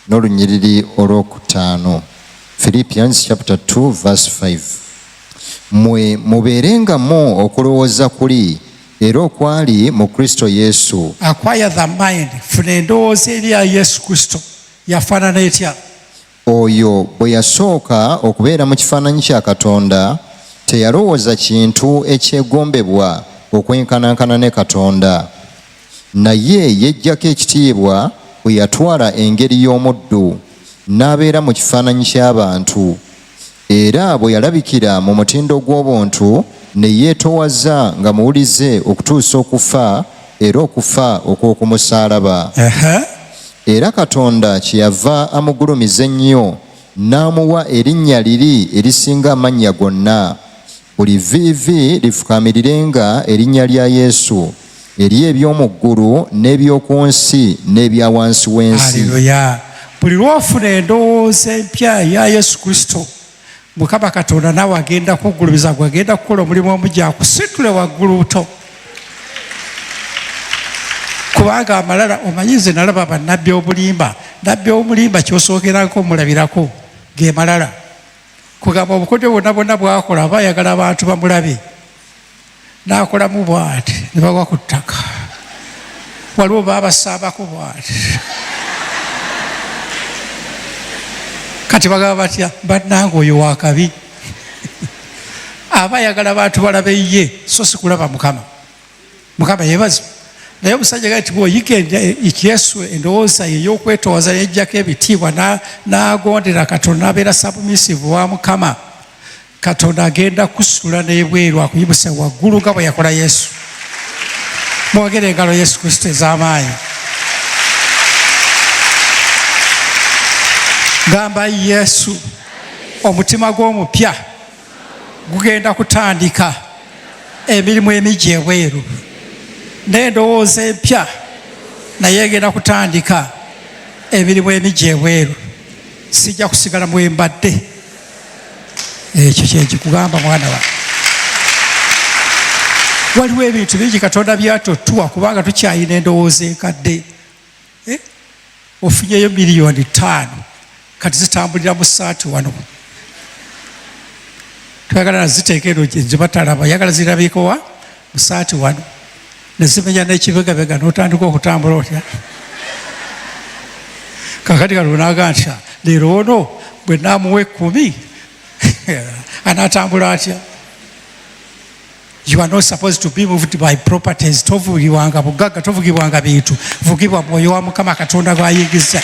n'olunyiriri olwokutaano philippians chapter 2 verse 5 mwe mubeerengamu okulowooza kuli era okwali mu kristo yesu akwaya the mind funa endowooza eri ya yesu kristo yafaanana etya Oyo bwe yasooka okubeera mu kifaananyi kya Katonda, teyalowooza kintu ekyegombebwa okwenkanankana ne Katonda, naye yeggyako ekitiibwa bwe yatwala engeri y'omuddu, n'abeera mu kifaananyi ky'abantu. Era bwe yalabikira mu mutindo gw'obuntu, ne yeetowaza nga muwulize okutuusa okufa, era okufa okw'okumusaalaba. Era Katonda kye yava amugulumiza ennyo, n'amuwa erinnya liri erisinga amannya gonna, Buli vviivi lifukaamirirenga erinnya lya Yesu, eri eby'omu ggulu n'eby'oku nsi n'ebya wansi w'ensi. Aleluya! Buli lw'ofuna endowooza empya eya Yesu Kristo, Mukama Katonda naawe agenda kuggulumiza gwe agenda kukola omulimu omugya akusitule waggulu buto. Kubanga amalala omanyi nze nalaba bannabbi obulimba, nabbi omulimba ky'osookerako omulabirako ge malala. kugamba obukodyo bwonna bwonna bwakola aba ayagala abantu bamulabe n'akolamu bwati ne bagwa ku ttaka waliwo baabasaabako bwati kati bagamba batya bannanga oyo wakabi aba ayagala bantu balabe ye so sikulaba mukama mukama yebazi naye omusajja gati bwoyiga ekyesu endowooza ye yokwetoowaza yejjako ebitiibwa nagondera katonda nabeera sabumisivu wa mukama katonda agenda kusula nebweru akuyibuse waggulu nga bweyakola yesu mwogere engalo yesu kristo ez'amaanyi gamba yesu omutima gw'omupya gugenda kutandika emirimu emigi ebweru n'endowooza empya naye egenda kutandika emirimu emigi ebweru sijja kusigala mwembadde ekyo kyekikugamba mwana wa waliwo ebintu bingi katonda byatotuwa kubanga tukyayina endowooza enkadde eh? ofunyeyo miliyoni taano kati zitambulira mu saati wano twagala naziteeka eno gyebatalaba yagala zirabikowa mu saati wano nezimenya nekibegabega notandika okutambula otya kakati kalonaga ntya leero ono bwe namuwa ekumi anatambula atya You are not supposed to be moved by properties. Tovugibwanga bugagga, tovugibwanga bintu. Vugibwa mwoyo wa Mukama Katonda gw'ayingiza.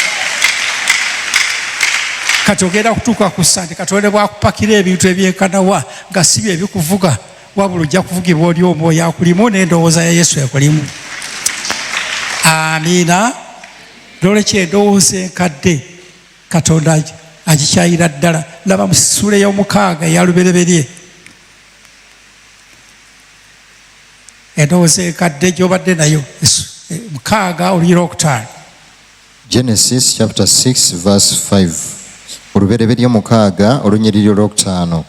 Kati ogenda kutuuka ku ssande Katonda bw'akupakira ebintu ebyenkanawa nga si bye bikuvuga, wabula ojja kuvugibwa oli omwoyo akulimu n'endowooza ya Yesu ekulimu. Amiina. N'olwekyo endowooza enkadde Katonda agikyayira ddala. Laba mu ssuula ey'omukaaga eya lubereberye. endowooza ekadde gyobadde nayo eh, mukaaga oluyira okutaano genesis chapter 6 verse 5 olubereberye mukaaga olunyiriri olwokutaano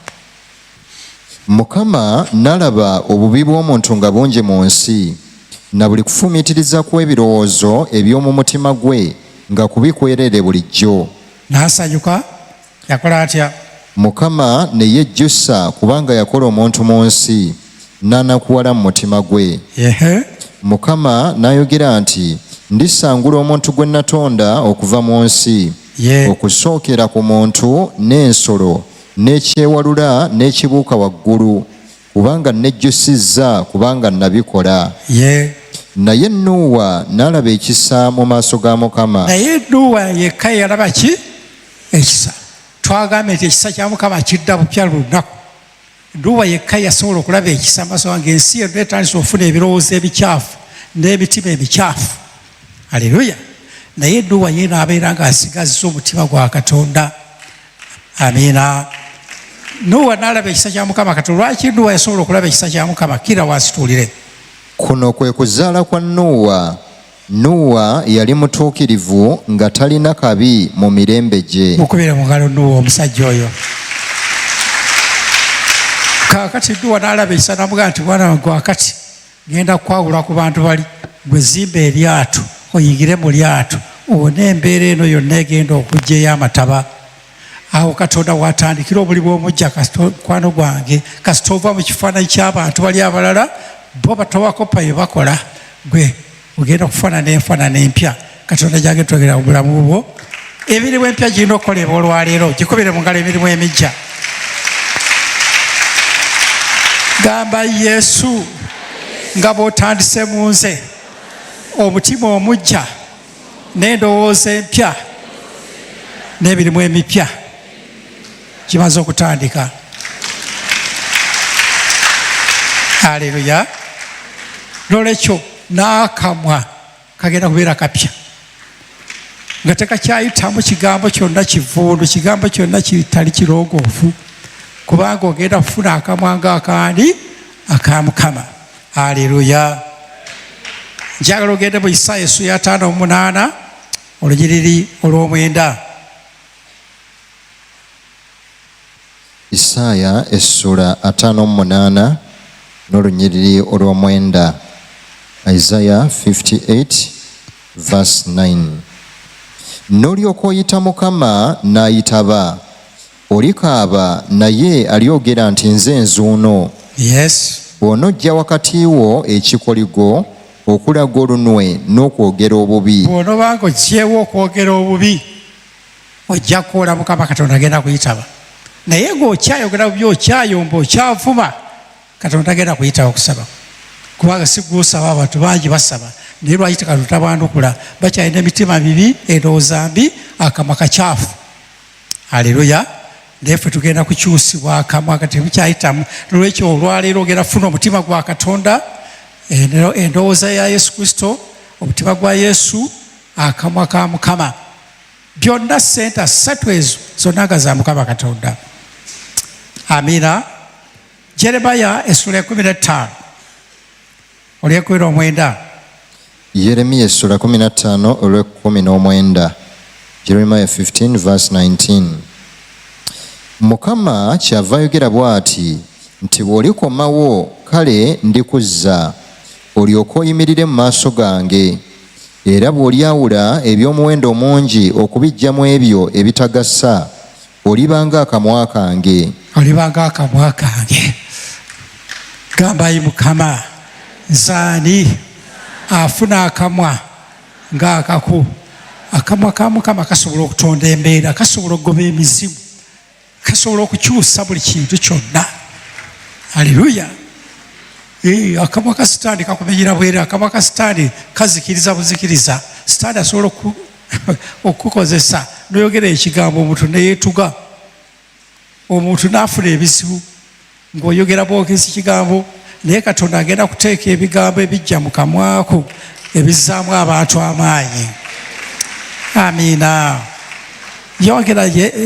mukama nalaba obubi bw'omuntu nga bungi mu nsi na buli kufumiitiriza kw'ebirowoozo eby'omu mutima gwe nga kubikwereere bulijjo n'asanyuka yakola atya mukama ne yejjusa kubanga yakola omuntu mu nsi n'anakuwala mu mutima gwe mukama n'ayogera nti ndisangula omuntu gwe natonda okuva mu nsi okusookera ku muntu n'ensolo n'ekyewalula n'ekibuuka waggulu kubanga nejjusizza kubanga nabikola ye naye nuuwa nalaba ekisa mu maaso ga mukama naye nuuwa yekka yalaba ki ekisa twagambye nti ekisa kya mukama kidda bupya lunaku nuuwa yekka yasobola okulaba ekisa maaso gange ensi yonna etandisa okufuna ebirowoozo ebikyafu n'emitima emikyafu aleluya naye nuuwa ye naabeera ng'asigazza omutima gwa katonda amiina nuwa nalaba ekisa kya mukama kati lwaki nuwa yasobola okulaba ekisa kya mukama kira wasituulire kuno kwe kuzaala kwa nuwa nuwa yali mutuukirivu nga talina kabi mu mirembe gye mukubire mu ngalo nuwa omusajja oyo kakati nuwa nalaba ekisa namugaa nti mwana wange wakati Ngenda kwawula ku bantu bali gwe zimba eryato oyigire mu lyato owone embeera eno yonna egenda okujja ey'amataba awo katonda watandikira obuli bwomujja mukwano gwange kasita ova mu kifaananyi ky'abantu bali abalala bo batawakopa bye bakola gwe ogenda okufaanana enfaanana empya katonda gyange twegera obulamu bwo emirimu empya girina okukolebwa olwaleero gikubire mu ngalo emirimu emijja gamba yesu nga bw'otandise mu nze omutima omujja n'endowooza empya n'emirimu emipya kimaze okutandika aleluya nolwekyo n'akamwa kagenda kubeera kapya nga tekakyayitamu kigambo kyonna kivundu kigambo kyonna kitali kirongoofu kubanga ogenda kufuna akamwa nga akandi aka mukama aleluya njagala ogende mu isaaya esu yataano omunaana olunyiriri olw'omwenda Isaaya essula ataano mu munaana n'olunyiriri olw'omwenda. Isaiah 58 verse 9 n'olyoka oyita mukama n'ayitaba olikaaba naye alyogera nti nze nzuuno yes bw'onojja wakati wo ekikoligo okulaga olunwe n'okwogera obubi bw'onobanga oggyewo okwogera obubi ojja kukola mukama katonda agenda kuyitaba naye ngaokyayogera bubi okyayomba okyavuma katonda agenda kuyitaba okusaba kubanga siguusaba abantu bangi basaba naye lwaki tekatonda tabandukula bakyalina emitima mibi endowooza mbi akamwa kakyafu aleluya naye fe tugenda kukyusibwa akamwa kati bukyayitamu nolwekyo olwaleero ogenda funa omutima gwa katonda endowooza ya yesu kristo omutima gwa yesu akamwa ka mukama byonna sente ssatu ezo zonna nga za mukama katonda amina jeremaya essula ekumi nettaano olwekumi nomwenda yeremiya essula kumi nattaano olwekumi n'omwenda jeremiya 15 vs 19 mukama kyava ayogera bw'ati nti bw'olikomawo kale ndikuzza olyoke oyimirire mu maaso gange Era bw'olyawula eby'omuwendo omungi okubiggya mu ebyo ebitagasa, oliba nga akamwa kange. Oliba nga akamwa kange. Gamba, Ayi Mukama, nze ani afuna akamwa nga akako? Akamwa ka Mukama kasobola okutonda embeera, kasobola okugoba emizimu. kasobola okukyusa buli kintu kyonna aleluya eh, akamwa ka sitaani kakumenyera bwere akamwa ka sitaani kazikiriza buzikiriza sitaani asobola okukukozesa noyogera ekigambo omuntu neyetuga omuntu nafuna ebizibu ng'oyogera bwogezi kigambo naye katonda agenda kuteeka ebigambo ebijja mu kamwako ebizzaamu abantu amaanyi amiina yogera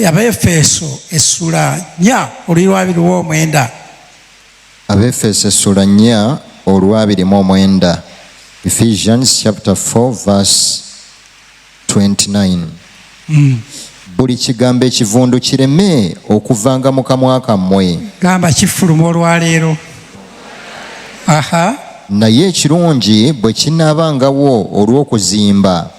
abaefeeso essula nya oluyi lwabiri mu omwenda abaefeeso essula nya olwabiri mu omwenda ephesians chapter 4 verse 29 buli kigambo ekivundu kireme okuvanga mu kamwa kammwe gamba kifuluma olwaleero aha naye ekirungi bwe kinaabangawo olw'okuzimba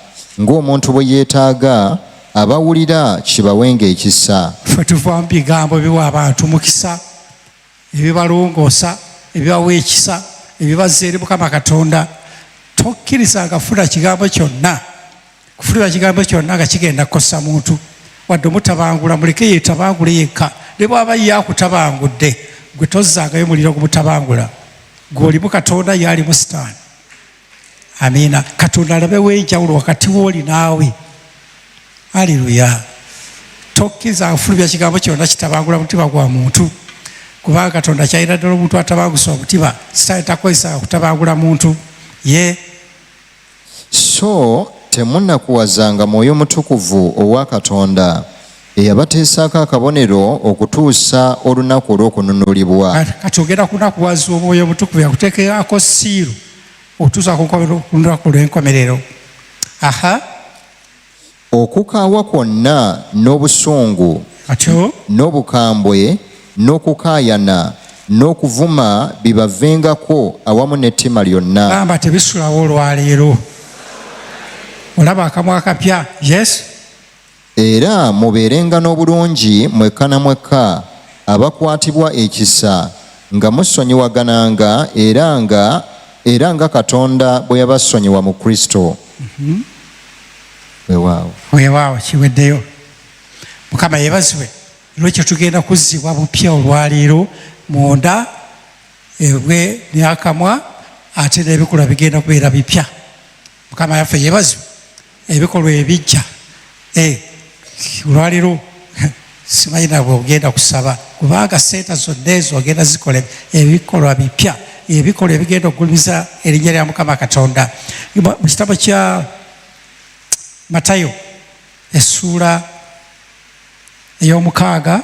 ng'omuntu bwe yeetaaga abawulira kibawenga ekisa fe tuva mu bigambo biwa abantu mukisa ebibalongoosa ebibawa ekisa ebibazza eri mukama katonda tokkiriza nga funa kigambo kyonna kufulira kigambo kyonna nga kigenda kukosa muntu wadde omutabangula muleke yetabangule yekka ne bwaba ye akutabangudde gwe tozzangayo muliro gumutabangula gweolimu katonda ye alimu sitaani amiina katonda alabewo enjawulo wakati wooli naawe aleluya tokkiriza afulumya kigambo kyonna kitabangula mutima gwa muntu kubanga katonda kyalina ddala omuntu atabangusa omutima sitaani takozesa kutabangula muntu ye so temunakuwazanga mwoyo mutukuvu owa katonda eyabateesaako akabonero okutuusa olunaku olw'okununulibwa kati ogenda kunakuwaza omwoyo omutukuvu yakutekerako siiru otuusa kulunaku lw'enkomerero aha okukaawa kwonna n'obusungu atyo n'obukambwe n'okukaayana n'okuvuma bibavengako awamu n'ettima lyonna gamba tebisulawo olwaleero olaba akamwa akapya yes Era mubeerenga n'obulungi mwekka na mwekka, abakwatibwa ekisa, nga musonyiwagananga, era nga, era nga Katonda bwe yabasonyiwa mu Kristo. Mhm. Weewaawo. Weewaawo, kiweddeyo. Mukama yebazibwe lwekyo tugenda kuzzibwa bupya olwaleero munda ebwe neakamwa ate nebikolwa bigenda kubeera bipya mukama yaffe yebazibwe ebikolwa ebijja eh, olwaliro simanyi nabwe ogenda kusaba kubanga sente zonna ezo ogenda zikola ebikolwa bipya ebikolwa ebigenda okugulumiza erinnya lya mukama katonda mu kitabo kya matayo essuula ey'omukaaga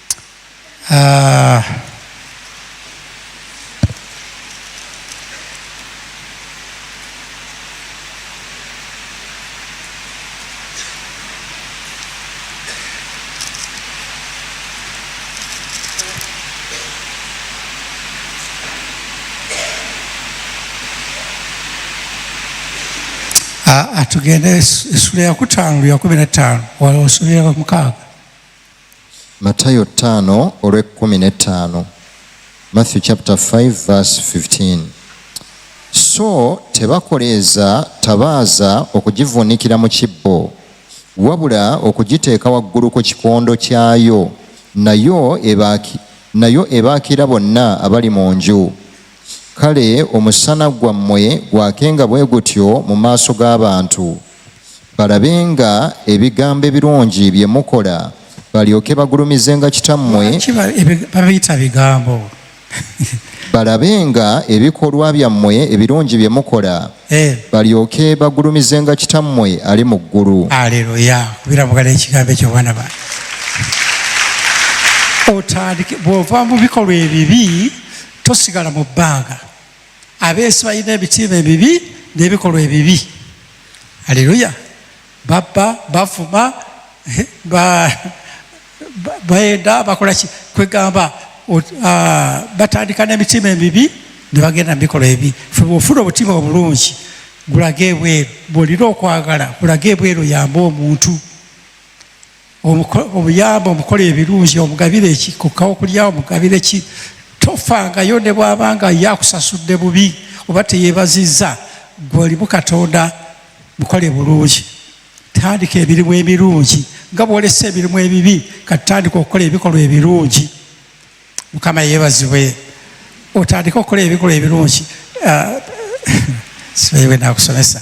Ah. Ah, ah, tugende esula yakutaano luyakumi na ttaano wala osobera mukaaga Matayo ttaano olw'ekkumi n'ettaano Matthew chapter 5 verse 15 so tebakoleeza tabaaza okugivuunikira mu kibbo wabula okugiteeka waggulu ku kikondo kyayo nayo ebaaki nayo ebaakira bonna abali mu nju kale omusana gwammwe gwakenga bwe gutyo mu maaso g'abantu balabenga ebigambo ebirungi bye mukola balyoke bagulumizenga kitammwe babiyita bigambo balabenga ebikolwa byammwe ebirungi bye mukola eh. balyoke bagulumizenga kitammwe ali mu ggulu aleluya birabugala ekigambo ekyo bwana ba otandike bw'ova mu bikolwa ebibi tosigala mu bbanga abeeso balina ebitiima ebibi n'ebikolwa ebibi aleluya babba bavuma eh, baenda bakola ki kwegamba ah, batandika n'emitima emibi ne bagenda mu bikolwa ebi ofuna obutima obulungi gulage ebweru bwolina okwagala gulage ebweru yamba omuntu obuyamba omukola ebirungi omugabire eki kukka okulya omugabire ki tofangayo ne bwabanga yakusasudde bubi oba teyebazizza gwe olimu katonda mukole bulungi tandika emirimu emirungi nga bwolesa emirimu ebibi katutandika okukola ebikolwa ebirungi mukama yebazibwe otandika okukola ebikolwa ebirungi ah, sibewe nakusomesa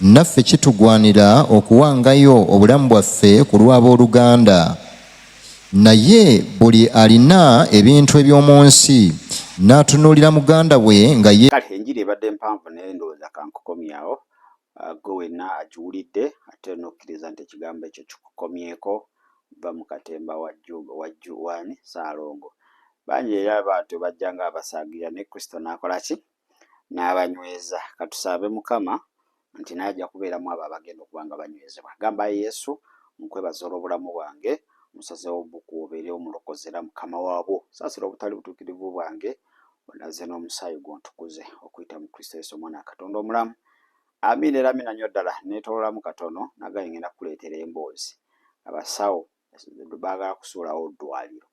Naffe kitugwanira okuwangayo obulamu bwaffe ku lw'ab'oluganda. Naye buli alina ebintu eby'omu nsi n'atunuulira muganda we nga ye. Kale enjiri ebadde mpanvu naye ndowooza kankukomyawo. Ah, gwe wenna akiwulidde ate n'okkiriza nti ekigambo ekyo kikukomyeko, vva mu katemba wa Ju- wa Ju- waani Ssaalongo. Bangi era bwatyo bajja ng'abasaagirira naye Kristo n'akola ki? n'abanyweza. Katusabe mukama nti naye ajja kubeeramu abo abagenda okuba nga banywezebwa. Gamba ayi Yesu nkwebaza olw'obulamu bwange, musazewo buku obeere omulokozi era mukama wabwo. Saasira obutali butuukirivu bwange, onaze n'omusaayi gwo ontukuze okuyita mu Kristo Yesu omwana wa Katonda omulamu. Amiina era amiina nnyo ddala. Nneetoololamu katono nagaye ngenda kukuleetera emboozi. Abasawo Baagala kusuulawo ddwaliro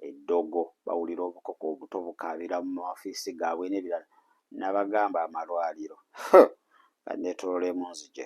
eddogo, bawulira obukoko obuto bukaabira mu mawafiisi gaabwe n'ebirala. Nabagamba amalwaliro huh! nga neetolola emunzigye.